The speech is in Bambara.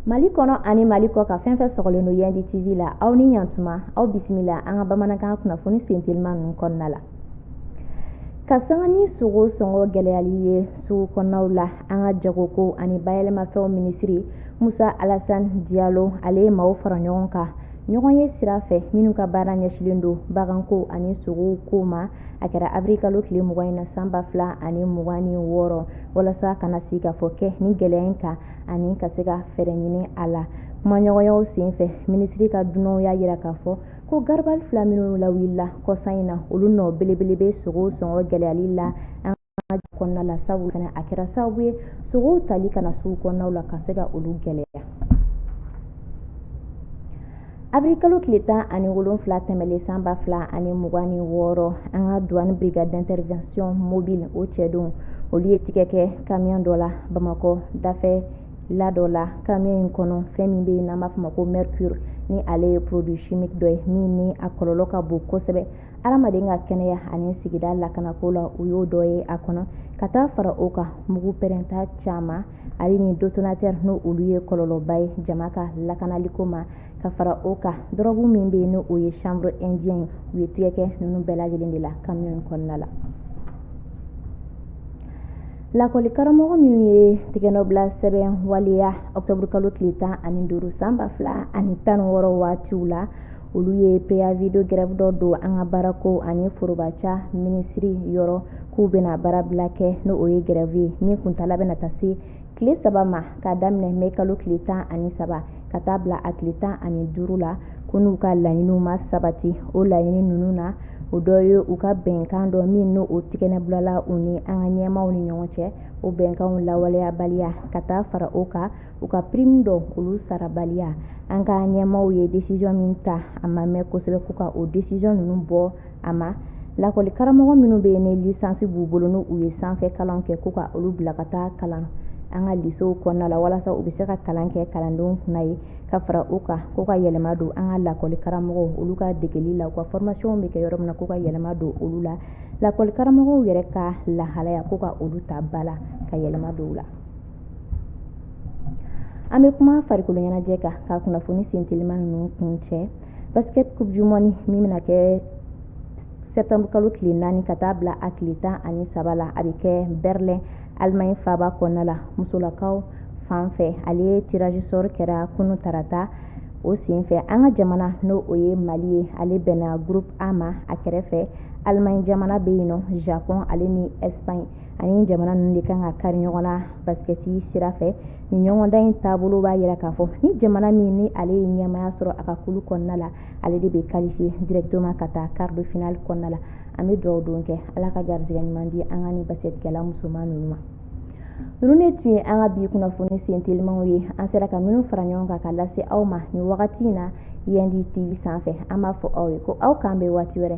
mali kɔnɔ ani mali kɔkan fɛn fɛn sɔgɔlen don yandi tv la aw ni ɲantuma aw bisimila an ka bamanankan kunnafoni sentelima ninnu kɔnɔna la ka sanga ni sogo sɔngɔ gɛlɛyali ye sugu kɔnɔnaw la an ka jagoko ani bayɛlɛmafɛnw minisiri musa alasan diyalo ale ye maaw fara ɲɔgɔn kan ɲɔgɔn ye sira fɛ minnu ka baara ɲɛsilen don baganko ani sogow ko ma a kɛra abiri kalo tile mugan in na san ba fila ani mugan ni wɔɔrɔ walasa ka na sigikafɔ kɛ nin gɛlɛya in kan ani ka se ka fɛɛrɛ ɲini a la kumaɲɔgɔnyaw sen fɛ minisiri ka dunanw y'a jira k'a fɔ ko garabali fila minnu lawulila kɔsa in na olu nɔ belebele bɛ sogow sɔngɔ gɛlɛyali la kɔnɔna la sabu fana a kɛra sababu ye sogow tali ka na sugu kɔnɔnaw la ka se ka olu gɛlɛya abirikalo tile tan ani wolonfila tɛmɛlen san ba fila ani mugan ni wɔɔrɔ an ka duwani brigade d'intervention mobile o cɛdenw olu ye tigɛ kɛ kamiyon dɔ la bamakɔ dafɛla dɔ la kamiyon in kɔnɔ fɛn min bɛ yen n'an b'a fɔ ma ko mercure ni ale ye produit chimique dɔ ye min ni a kɔlɔlɔ ka bon kosɛbɛ adamaden ka kɛnɛya ani sigida lakanako la u y'o dɔ ye a kɔnɔ ka taa fara o kan mugu pɛrɛnta caman ale ni detonatɛri n'o olu ye kɔlɔlɔba ye jama ka lakanaliko ma ka fara o kan dɔrɔgu min bɛ yen n'o ye chanvre indien u ye tigɛ kɛ ninnu bɛɛ lajɛlen de la kamiyon in kɔnɔna la lakɔli karamɔgɔ minnu ye tigɛnɔbila sɛbɛn waleya ɔktɔburukalo tile tan ani duuru san ba fila ani tan ni wɔɔrɔ waatiw la olu ye préavis de grève dɔ don an ka baarako ani forobaca minisiri yɔrɔ k'u bɛna baarabila kɛ n'o ye grève ye min kuntaala bɛna taa se tile saba ma k'a daminɛ mɛkalo tile tan ani saba ka taa bila a tile tan ani duuru la ko n'u ka laɲiniw ma sabati o laɲini ninnu na o dɔ ye u ka bɛnkan dɔ min n'o tigɛnɔ bilala u ni an ka ɲɛmaaw ni ɲɔgɔn cɛ o bɛnkanw lawaleyabaliya ka taa fara o kan u ka prime dɔ olu sarabaliya an ka ɲɛmaaw ye décision min ta a ma mɛn kosɛbɛ ko ka o décision ninnu bɔ a ma lakɔli karamɔgɔ minnu bɛ yen ni lisansi b'u bolo n'u ye sanfɛ kalan kɛ ko ka olu bila ka taa kalan an ka lisew kɔnɔna la walasa u bɛ se ka kalan kɛ kalandenw kunna yen ka fara o kan ko ka yɛlɛma don an ka lakɔli karamɔgɔw olu ka degeli la u ka formation bɛ kɛ yɔrɔ min na ko ka yɛlɛma don olu la lakɔli karamɔgɔw yɛrɛ ka lahalaya ko ka olu ta ba la ka yɛlɛma don u la an bɛ kuma farikolo ɲɛnajɛ kan ka kunnafoni sen telima ninnu kuncɛ basket coupe du monde min bɛna kɛ septembre kalo tile naani ka taa bila a tile tan ani saba la a bɛ kɛ berlin allemagne faaba kɔnɔna la musolakaw fan fɛ ale tirage sort kɛra kunun tarata o senfɛ an ka jamana n'o o ye mali ye ale bɛnna groupe a ma a kɛrɛfɛ allemagne jamana bɛ yen nɔ japon ale ni espagne ani jamana ninnu de kan ka kari ɲɔgɔn na baskɛti sira fɛ nin ɲɔgɔndan in taabolo b'a yira k'a fɔ ni jamana min ni ale ye ɲɛmaya sɔrɔ a ka kulu kɔnɔna la ale de bɛ qualifier directement ka taa quart de finale kɔnɔna la an bɛ dugawu don kɛ ala ka garijɛgɛ ɲuman di an ka nin baskɛtikɛla musoman ninnu ma ninnu de tun ye an ka bi kunnafoni sen telimanw ye an sera ka minnu fara ɲɔgɔn kan ka lase aw ma nin wagati in na yandi tv sanfɛ an b'a fɔ aw ye ko aw k'an bɛn waati wɛrɛ